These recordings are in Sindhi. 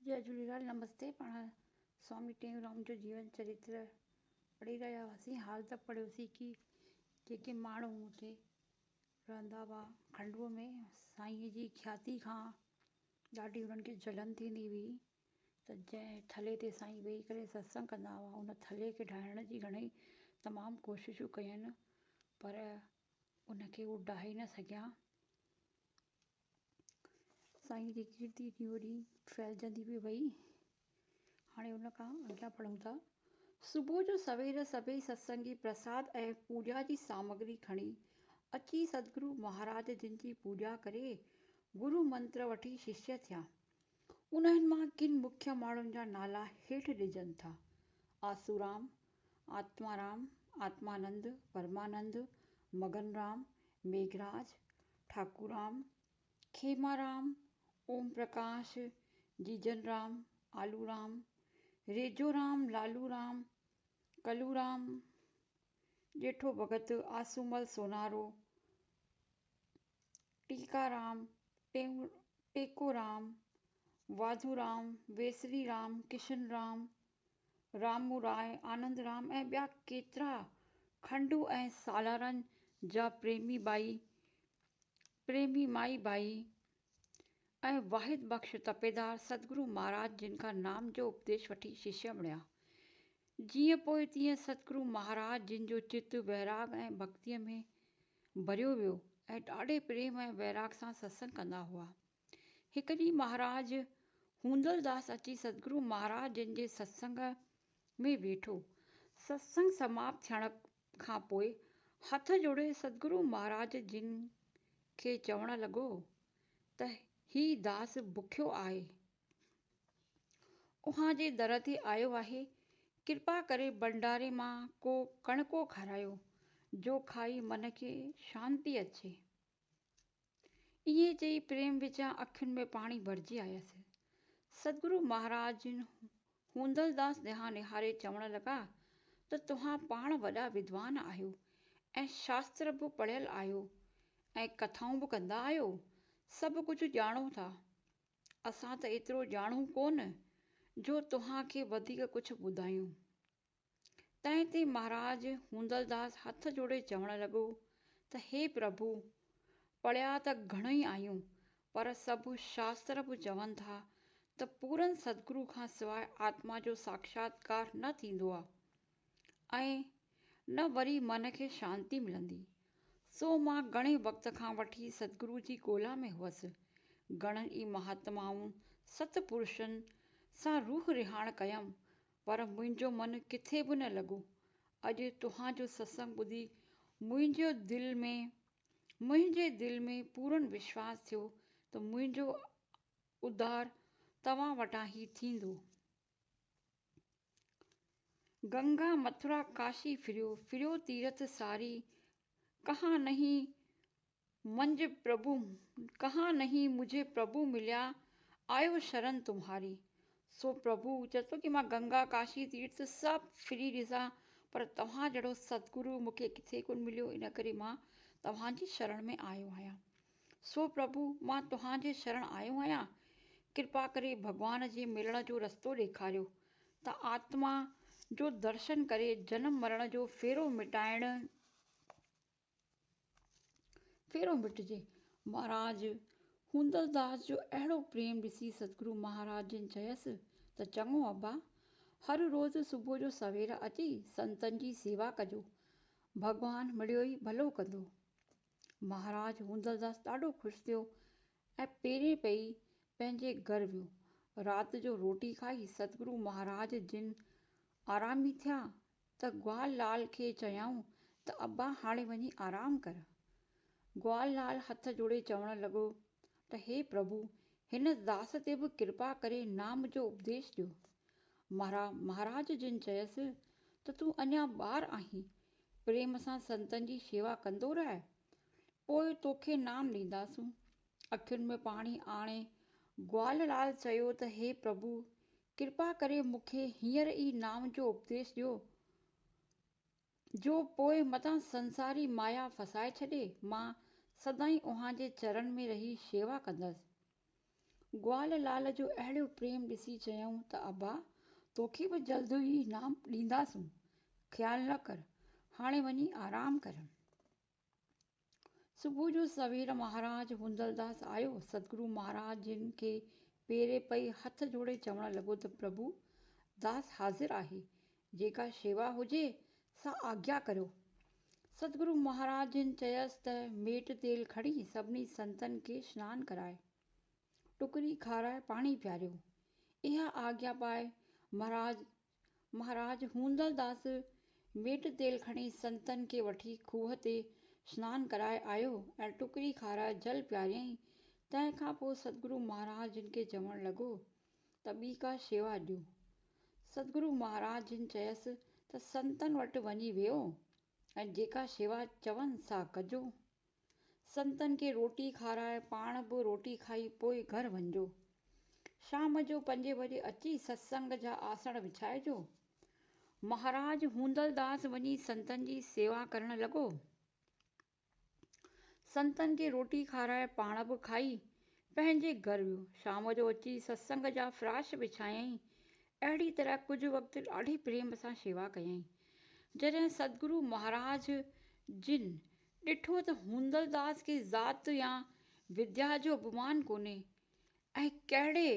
جئي جهوليلال نمستي پاڻ سوامي ٽيئونرام جو جيون چريتر پڙهي رهيا هئاسين حال ته پڙهيوسين ڪي جيڪي ماڻهو مون تي رهندا هئا کنڊوء ۾ سائينء جي کياتي کان ڏاڍي انهن کي جلن ٿيندي هئي ته جنهن ٿلهي تي سائين ويهي ڪري ستسنگ ڪندا هئا ان ٿلهي کي ڊاهڻ جي گهڻئي تمام ڪوششون ڪيون پر ان کي هو ڊاهي نه سگهيا سائين جي ڪيرتي ڏينهون ڏينهن ڦهلجندي پئي وئي. هاڻي ان کان اڳيان پڙهون ٿا. صبح جو سوير سڀئي ستسنگي پرساد ۽ پوڄا جي سامگري کڻي اچي سدگرو مهاراج جن جي پوڄا ڪري گرو منتر وٺي ششيه ٿيا. انهن مان ڪن مکيه ماڻهن جا نالا هيٺ ڏجن ٿا، آسورام، آتمارام، آتمانند، پرمانند، مگن رام، ميگھراج، ٺاڪورام، کيمارام، اوم پرڪاش، جيجن رام، آلو رام، ريجو رام، لالو رام، ڪلو رام، ڄيٺو ڀڳت، آسومل سونارو، ٽيڪا رام، ٽيڪو رام، واڌو رام، ويسري رام، ڪشن رام، رامو راء، آنند رام ۽ ٻيا ڪيترا کنڊو ۽ سالارن جا پريمي ٻائي، پريمي مائي ٻائي ۽ واحد بخش تپيدار ستگرو مهاراج جن کان نام جو اپديش وٺي ششيه بڻيا. جيئن پوء تيئن ستگرو مهاراج جن جو چت ويراڳ ۽ ڀڳتيء ۾ ڀريو ويو ۽ ڏاڍي پريم ۽ ويراڳ سان ستسنگ ڪندا هئا. هڪ ڏينهن مهاراج هوندلداس اچي سدگرو مهاراج جن جي ستسنگ ۾ ويٺو. ستسنگ سماپت ٿيڻ کان پوء هٿ جوڙي سدگرو مهاراج جن کي چوڻ لڳو ته هي داس بکيو آهي، اوهان جي در تي آيو آهي، ڪرپا ڪري ڀنڊاري مان ڪو ڪڻڪو کارايو، جو کائي من کي شانتي اچي. ائين چئي پريم وچان اکين ۾ پاڻي ڀرجي آيس. سدگرو مهاراج جن هوندلداس ڏانهن نهاري چوڻ لڳا ته توهان پاڻ وڏا ودوان آهيو ۽ شاستر به پڙهيل آهيو ۽ ڪٿائون به ڪندا آهيو، سڀ ڪجهه ڄاڻو ٿا. اسان ته ايترو ڄاڻون ڪونه جو توهان کي وڌيڪ ڪجهه ٻڌايون. تنهن تي مهاراج هوندلداس هٿ جوڙي چوڻ لڳو ته هي پرڀو! پڙهيا ته گهڻوئي آهيون پر سڀ شاستر به چون ٿا ته پورن سدگرو کان سواء آتما جو ساکشاتڪار نه ٿيندو آهي ۽ نه وري من کي شانتي ملندي. سو مان گهڻي وقت کان وٺي سدگرو جي ڳولا ۾ هئس. گهڻن ئي مهاتمائن، ست پرشن، سان روح رهاڻ ڪيم پر منهنجو من ڪٿي به نه لڳو. اڄ توهان جو ستسنگ ٻڌي منهنجو دل ۾ منهنجي دل ۾ پورن وشواس ٿيو ته منهنجو اڌار توهان وٽان ئي ٿيندو. گنگا مٿرا ڪاشي ڦريو ڦريو تيرٿ ساري، ڪهان نهين منج پرڀو ڪهان نهين مجهي پرڀو مليا آيو شرن تمهاري. سو پرڀو چئي ٿو ڪي مان گنگا ڪاشي تيرٿ سڀ ڦري ڏسان پر توهان جهڙو ستگرو مون کي ڪٿي ڪونه مليو ان ڪري مان توهان جي شرڻ ۾ آيو آهيان. سو پرڀو مان توهان جي شرڻ آيو آهيان ڪرپا ڪري ڀڳوان جي ملڻ جو رستو ڏيکاريو ته آتما جو درشن ڪري جنم مرڻ جو ڦيرو مٽائڻ ڦيرو مٽجي. مھاراج ھوندلداس جو اھڙو پريم ڏسي ستگرو مھاراج جن چيس ته چڱو ابا، ھر روز صبح جو سوير اچي سنتن جي سيوا ڪجو، ڀڳوان مڙيو ئي ڀلو ڪندو. مھاراج ھوندلداس ڏاڍو خوش ٿيو ۽ پيرين پئي پنھنجي گھر ويو. رات جو روٽي کائي ستگرو مھاراج جن آرامي ٿيا ته گوال لال کي چيائون ته ابا هاڻي وڃي آرام ڪر. گوال لال هٿ جوڙي چوڻ لڳو ته هي پرڀو هن داس تي به ڪرپا ڪري نام جو اپديش ڏيو. مهرا مهاراج جن چيس ته تون اڃا ٻار آهين، پريم سان سنتن جي شيوا ڪندو رهه، پوء توکي نام ڏينداسون. اکين ۾ پاڻي آڻي گوال لال چيو ته هي پرڀو ڪرپا ڪري مون کي هينئر ئي نام جو اپديس ڏيو، جو پوء متان سنساري مايا ڦسائي ڇڏي، مان سدائين اوهان جي چرن ۾ رهي شيوا ڪندس. گوال لال جو اهڙو پريم ڏسي چيائون ته ابا، توکي به جلد ئي نام ڏينداسون، خيال نه ڪر، هاڻي وڃي آرام ڪر. صبح جو سوير مهاراج هوندلداس آيو، سدگرو مهاراج جن کي پيري پئي هٿ جوڙي چوڻ لڳو ته پرڀو داس حاضر آهي، جيڪا شيوا هجي سا آگيا ڪريو. سدگرو مهاراج جن چيس ته ميٽ تيل کڻي سڀني سنتن کي سنان ڪرائي، ٽڪري کارائي پاڻي پياريو. اها آگيا پائي مهاراج مھاراج ھوندل داس ميٽ تيل کڻي سنتن کي وٺي کوھه تي سنان ڪرائي آيو ۽ ٽڪري کارائي جل پياريائين. تنهن کان پوء سدگرو مھاراج جن کي چوڻ لڳو ته ٻي ڪا شيوا ڏيو. سدگرو مھاراج جن چيس ته سنتن وٽ وڃي ويھو ۽ جيڪا شيوا چون سا ڪجو. سنتن کي روٽي کارائي پاڻ به روٽي کائي پوء گهر وڃجو. شام جو پنجين بجي اچي ستسنگ جا آسڻ وڇائجو. مهاراج هوندلداس وڃي سنتن جي سيوا ڪرڻ لڳو. سنتن کي روٽي کارائي پاڻ به کائي پنهنجي گهر ويو. شام جو اچي ستسنگ جا فراش وڇايائين. اهڙي طرح ڪجهه وقت ڏاڍي پريم سان شيوا ڪيائين. جڏهن سدگرو مهاراج جن ڏٺو ته هوندلداس کي ذات يا وديا جو اڀمان ڪونهي ۽ ڪهڙي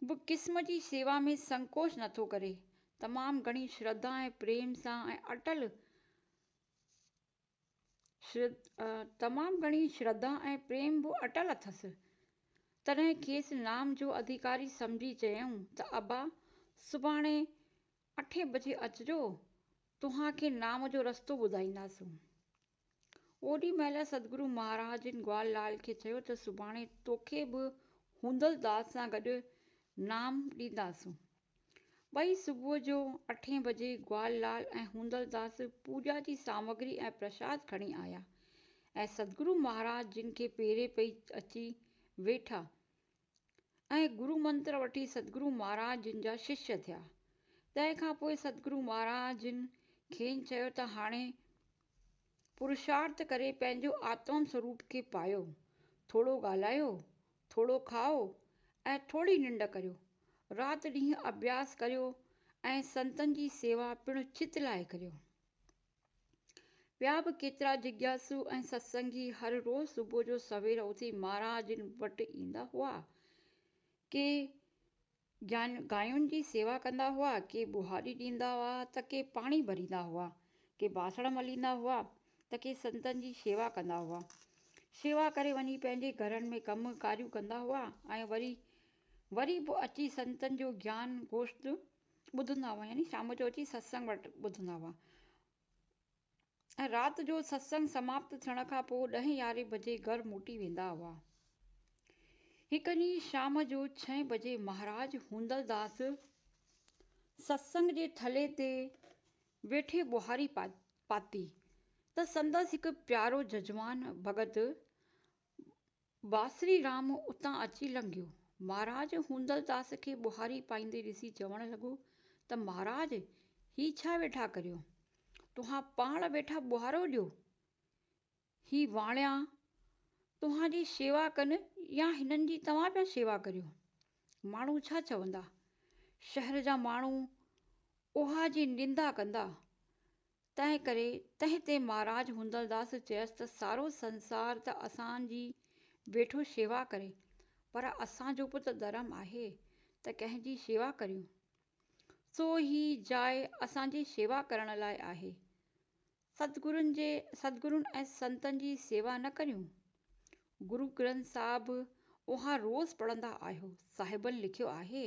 به قسم جي شيوا ۾ سنڪوچ نٿو ڪري. تمام گهڻي شرڌا ۽ پريم سان ۽ اٽل تمام گهڻي شرڌا ۽ پريم به اٽل اٿس. تڏهن کيس نام جو اڌيڪاري سمجهي چيائون ته ابا سڀاڻي اٺين بجي اچجو، توهان کي نام جو رستو ٻڌائينداسون. اوڏي مهل سدگرو مهاراج جن گوال لال کي چيو ته سڀاڻي توکي به هوندل داد سان گڏ نام ڏينداسون. ٻئي صبح جو اٺين بجي گوال لال ۽ هوندل داس پوڄا جي سامگري ۽ پرشاد کڻي آيا ۽ سدگرو مهاراج جن کي پيري پئي اچي ويٺا ۽ گرو منتر وٺي سدگرو مھاراج جن جا ششيا ٿيا. تنهن کان پوء سدگرو مھاراج جن کين چيو ته هاڻي پرشارٿ ڪري پنهنجو آتم سوروپ کي پايو، ٿورو ڳالهايو، ٿورو کائو ۽ ٿوري ننڊ ڪريو. رات ڏينهن اڀياس ڪريو ۽ سنتن جي سيوا پڻ چت لاهي ڪريو. ٻيا به ڪيترا جگياسو ۽ ستسنگي هر روز صبح جو سوير اٿي مهاراج جن وٽ ايندا هئا. ڪي گاين جي سيوا ڪندا هئا، ڪي ٻهاري ڏيندا هئا ته ڪي پاڻي ڀريندا هئا، ڪي باسڻ مليندا هئا ته ڪي سنتن جي شيوا ڪندا هئا. شيوا ڪري وڃي پنهنجي گهرن ۾ ڪم ڪاريون ڪندا هئا ۽ وري وري به اچي سنتن جو گيان گوشت ٻڌندا هئا يعني شام جو اچي ستسنگ وٽ ٻڌندا هئا ۽ رات جو ستسنگ سماپت ٿيڻ کان پوء ڏهين يارهين بجي گهر موٽي ويندا هئا. هڪ ڏينهن شام جو ڇهين بجي مهاراج هوندلداس ستسنگ جي ٿلهي تي ويٺي ٻهاري پاتي ته سندس هڪ پيارو ججمان ڀڳت باسري رام اتان اچي لنگهيو. مھاراج ھوندلداس کي ٻوھاري پائيندي ڏسي چوڻ لڳو ته مھاراج ھي ڇا ويٺا ڪريو؟ توھان پاڻ ويٺا ٻوھارو ڏيو. ھي واڻيا توھان جي شيوا ڪن يا ھنن جي توھان پيا شيوا ڪريو؟ ماڻھو ڇا چوندا؟ شھر جا ماڻھو اوھان جي نندا ڪندا تنهن ڪري تنهن تي مهاراج هوندلداس چيس ته سارو سنسار ته اسان جي ويٺو شيوا ڪري پر اسان جو به ته ڌرم آهي ته ڪنهن جي شيوا ڪريون. سو هي جاء اسان جي شيوا ڪرڻ لاء آهي. ستگرن جي ستگرن ۽ سنتن جي سيوا نه ڪريون؟ گرو گرنٿ صاحب اوهان روز پڙهندا آهيو، صاحبن لکيو آهي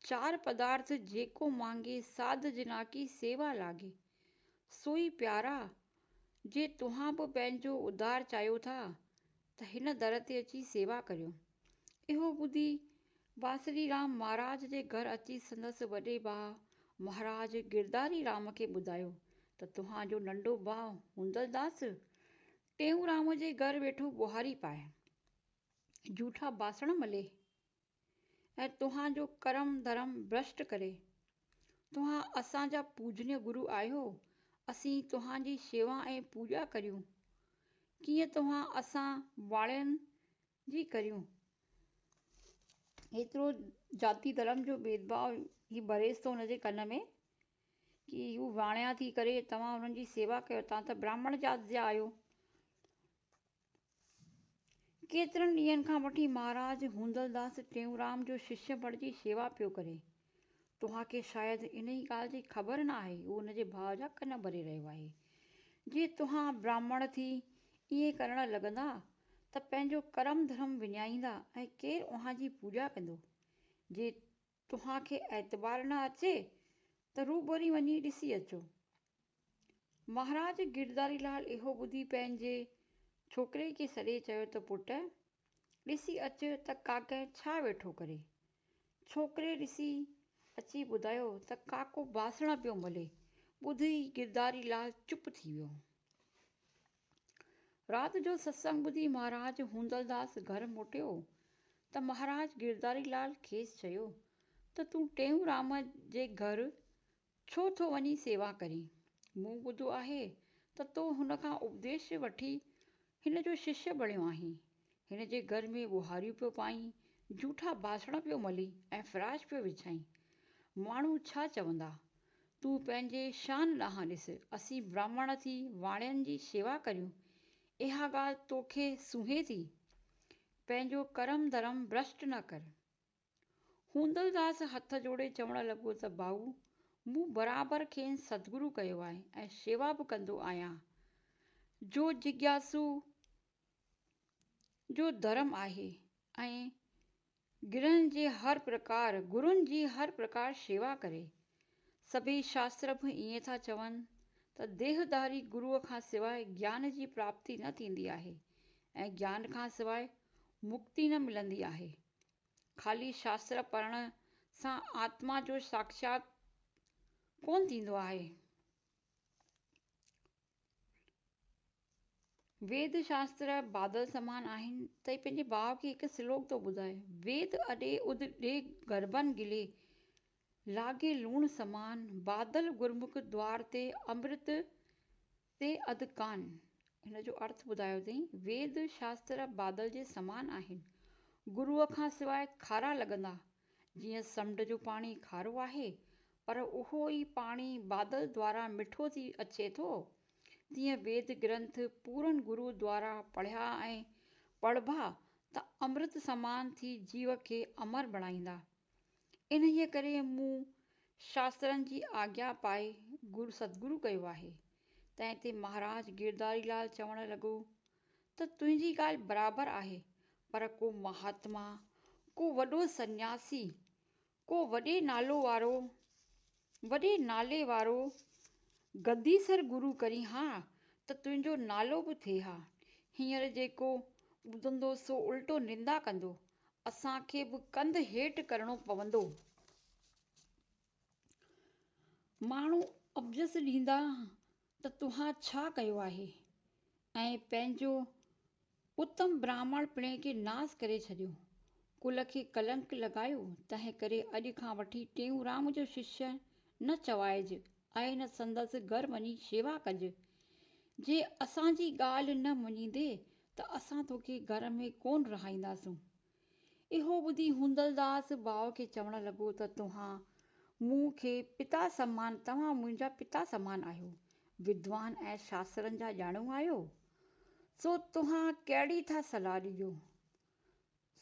چار پدارٿ جيڪو مانگي ساڌ جنا ڪي سيوا لاگي. سوئي پيارا! جي توهان به پنهنجو اڌار چاهيو ٿا ته هن در تي اچي سيوا ڪريو. اهو ٻڌي بانسري رام مهاراج جي گهر اچي سندس وڏي ڀاء مهاراج گرداري رام کي ٻڌايو ته توهان جو ننڍو ڀاء هوندل داس ٽيئونرام جي گهر ويٺو ٻوهاري پائي، جوٺا باسڻ ملي، ۽ توهان جو ڪرم ڌرم ڀرشٽ ڪري. توهان اسان جا پوجنيء گرو آهيو، اسين توهان جي شيوا ۽ پوڄا ڪريون، ڪيئن توهان اسان واڙين جي ڪريون. ايترو جاتي ڌرم جو ڀيدڀاء هي بريز ٿو هن جي ڪن ۾، ڪي هو واڻيا ٿي ڪري توهان انهن جي سيوا ڪيو، توهان ته براهمڻ جات جا آهيو. ڪيترن ڏينهن کان وٺي مهاراج هوندلداس ٽيئونرام جو ششيه بڻجي شيوا پيو ڪري. توهان کي شايد انهيء ڳالهه جي خبر نه آهي، هو هن جي ڀاء جا ڪن ڀري رهيو آهي. جي توهان براهمڻ ٿي ائين ڪرڻ لڳندا ته پنهنجو ڪرم ڌرم وڃائيندا ۽ ڪير اوهان جي پوڄا ڪندو؟ جي توهان کي اعتبار نه اچي ته روبري وڃي ڏسي اچو. مهاراج گرڌاري لال اهو ٻڌي پنهنجي ڇوڪري کي سڏي چيو ته پٽ! ڏسي اچ ته ڪاڪئ ڇا ويٺو ڪري. ڇوڪري ڏسي اچي ٻڌايو ته ڪاڪو باسڻ پيو ملي. ٻڌي ئي گرڌاري لال چپ ٿي ويو. رات جو ستسنگ ٻڌي مهاراج هوندلداس گهر موٽيو ته مهاراج گرڌاري لال کيس چيو ته تون ٽيئونرام جي گهر ڇو ٿو وڃين سيوا ڪرين؟ مون ٻڌو آهي ته تو هن کان اپديش وٺي هن جو ششيه بڻيو آهين. هن جي گهر ۾ ٻهاريون پيو پائين، جهوٺا باسڻ پيو ملين ۽ فراش پيو وڇائين. ماڻهو ڇا چوندا؟ تون پنهنجي شان ڏانهن ڏس، اسين براهمڻ ٿي واڻين جي شيوا ڪريون، اها ڳالهه توکي سونهين ٿي؟ پنهنجو ڪرم ڌرم برشٽ نه ڪر. هوندلداس هٿ جوڙي چوڻ لڳو ته ڀائو، مون برابر کين سدگرو ڪيو آهي ۽ شيوا به ڪندو آهيان. جو جگياسو جو ڌرم آهي ۽ گرهن جي هر پرڪار، گرون جي هر پرڪار شيوا ڪري. سڀئي شاستر به ائين ٿا چون ته ديهداري گروء کان سواء گيان جي پراپتي نه ٿيندي آهي ۽ گيان کان سواء مڪتي نه ملندي آهي. خالي شاستر پڙهڻ سان آتما جو ساکشات ڪونه ٿيندو آهي. ويد شاستر بادل سمان آهن ته هي پنهنجي ڀاء کي هڪ سلوڪ ٿو ٻڌائي، ويد اڏي اڌ ڏي گرڀن گلي، لاڳي لوڻ سمان، بادل گرمک دوار تي امرت تي اڌ ڪان، هن جو ارٿ ٻڌايو اٿئي، ويد شاستر بادل جي سمان آهن، گروء کان سواء کارا لڳندا، جيئن سمنڊ جو پاڻي کارو آهي، پر اهو ئي پاڻي بادل دوارا مٺو ٿي اچي ٿو، تيئن ويد گرنٿ پورن گرو دوارا پڙهيا ۽ پڙهبا ته امرت سمان ٿي جيو کي امر بڻائيندا. انهيء ڪري مون شاسترن جي آگيا پائي گرو ستگرو ڪيو آهي. تنهن تي مهاراج گيرداري لال چوڻ لڳو ته تنهنجي ڳالهه برابر آهي پر ڪو مهاتما، ڪو وڏو سنياسي، ڪو وڏي نالو وارو وڏي نالي وارو گديسر گرو ڪرين ها ته تنهنجو نالو به ٿئي ها. هينئر جيڪو ٻڌندو سو الٽو نندا ڪندو. اسان کي به ڪنڌ هيٺ ڪرڻو پوندو. ماڻهو اپجس ڏيندا ته توهان ڇا ڪيو آهي ۽ پنهنجو اتم براهمڻ پڻي کي ناس ڪري ڇڏيو، ڪل کي ڪلنڪ لڳايو، تنهن ڪري اڄ کان وٺي ٽيئونرام جو ششيه نه چوائج ۽ نه سندس گهر وڃي شيوا ڪج، جي اسان جي ڳالهه نه مڃيندين ته اسان توکي گهر ۾ ڪونه رهائينداسون، اهو ٻڌي هوندلداس ڀاء کي چوڻ لڳو ته توهان مون کي پتا سمان، توهان منهنجا پتا سمان آهيو، ودوان ۽ شاسترن جا ڄاڻو آهيو، سو توهان ڪهڙي ٿا صلاح ڏجو؟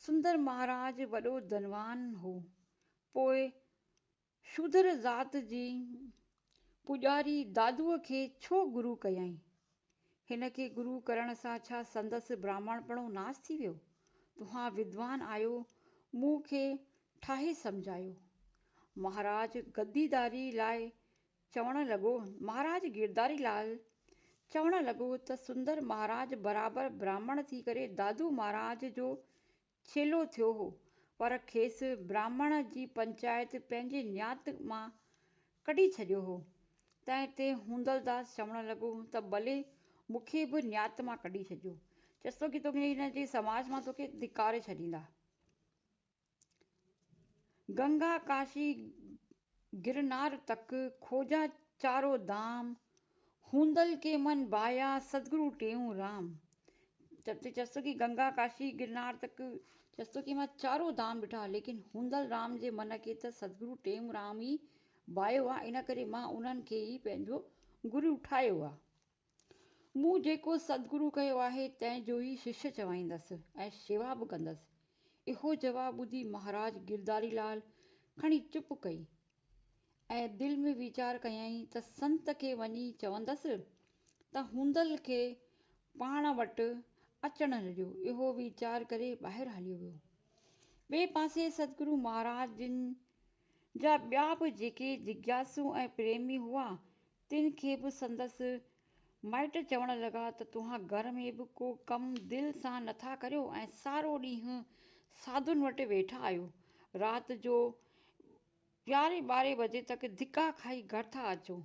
سندر مهاراج وڏو ڌنوان هو، پوء شودر ذات جي پوڄاري دادوء کي ڇو گرو ڪيائين؟ هن کي گرو ڪرڻ سان ڇا سندس براهمڻپڻو ناس ٿي ويو؟ توهان ودوان آهيو، مون کي ٺاهي سمجهايو. مهاراج گديداري لاء چوڻ لڳو، مهاراج گيرداري لاء چوڻ لڳو ته سندر مهاراج برابر براهمڻ ٿي ڪري دادو مهاراج جو ڇيلو ٿيو هو، پر کيس براهمڻ جي پنچائت پنهنجي نيات مان ڪڍي ڇڏيو هو. تنهن تي هوندلداس چوڻ لڳو ته ٻلي مون کي به نيات مان ڪڍي ڇڏيو، چيس ٿو ڪي توکي هن جي سماج مان توکي ڌڪاري ڇڏيندا. گنگا ڪاشي گرنار تڪ کوجا چارو دام، هوندل ڪي من بايا سدگرو ٽيئون رام. چتو چيس ٿو ڪي گنگا ڪاشي گرنار تڪ چيس ٿو ڪي مان چارو دام ڏٺا ليڪن هوندل رام جي من کي ته سدگرو ٽيئون رام ئي بايو آ ان ڪري مان انهن کي ئي پنهنجو گرو ٺاهيو آ. مون جيڪو سدگرو ڪيو آهي تنهن جو ئي شش چوائيندس ۽ شيوا به ڪندس. اهو جواب ٻڌي مهاراج گرڌاري لال کڻي چپ ڪئي ۽ دل ۾ ويچار ڪيائين ته سنت کي وڃي چوندس ته هوندل کي پاڻ وٽ اچڻ ڏيو. اهو ويچار ڪري ٻاهر هليو ويو. ٻئي پاسي سدگرو مهاراج جن جا ٻيا به جيڪي جگياسو ۽ پريمي هئا تن کي به سندس مائٽ چوڻ لڳا ته توهان گهر ۾ به ڪو ڪم دل سان نه ٿا ڪريو ۽ سارو ڏينهن ساڌن وٽ ويٺا آهيو. رات جو يارهين ٻارهين بجي تڪ ڌڪا کائي گهر ٿا اچو.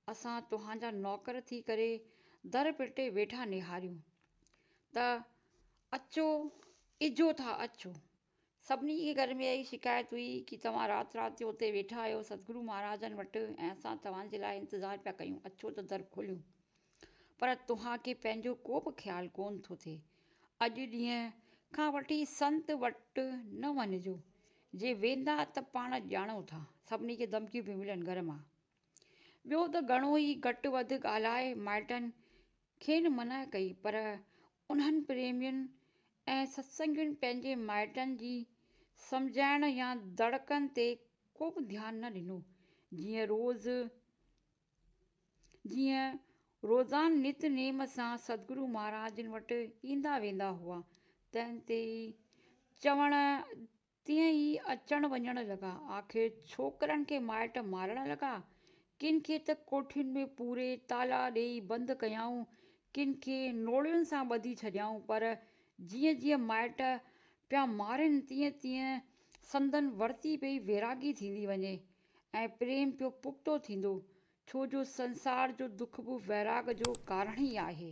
اسان توهان جا نوڪر ٿي ڪري در پٽي ويٺا نهاريون ته اچو اجهو ٿا اچو. سڀني کي گهر ۾ اهائي شڪايت هئي ڪي توهان رات رات جو اتي ويٺا آهيو سدگرو مهاراجن وٽ ۽ اسان توهان جي لاء انتظار پيا ڪيون اچو ته در کوليون پر توهان کي پنهنجو ڪو به خيال ڪونه ٿو ٿئي اڄ ڏينهن کان وٺي سنت وٽ نه وڃجو جي ويندا ته پاڻ ڄاڻو ٿا سڀني کي ڌمڪيون پيون ملن گهر مان ٻيو ته گهڻو ئي گهٽ وڌ ڳالهائي مائٽن کين منع ڪئي پر انهن پريمين ۽ ستسنگين پنهنجي مائٽن جي سمجهائڻ يا دڙڪن تي ڪوبه ڌيان نه ڏنو، جيئن روز جيئن روزان نت نيم سان سدگرو مهاراجن وٽ ايندا ويندا هئا، تنهن تي ئي چوڻ تيئن ئي اچڻ وڃڻ لڳا. آخر ڇوڪرن کي مائٽ مارڻ لڳا. ڪن کي ته ڪوٺين ۾ پوري تالا ڏيئي بند ڪيائون، ڪن کي نوڙين سان ٻڌي ڇڏيائون، پر جيئن جيئن مائٽ پيا مارين تيئن تيئن سندن ورتي پئي ويراڳي ٿيندي وڃي ۽ پريم پيو پختو ٿيندو، ڇو جو سنسار جو دک به ويراڳ جو ڪارڻ ئي آهي.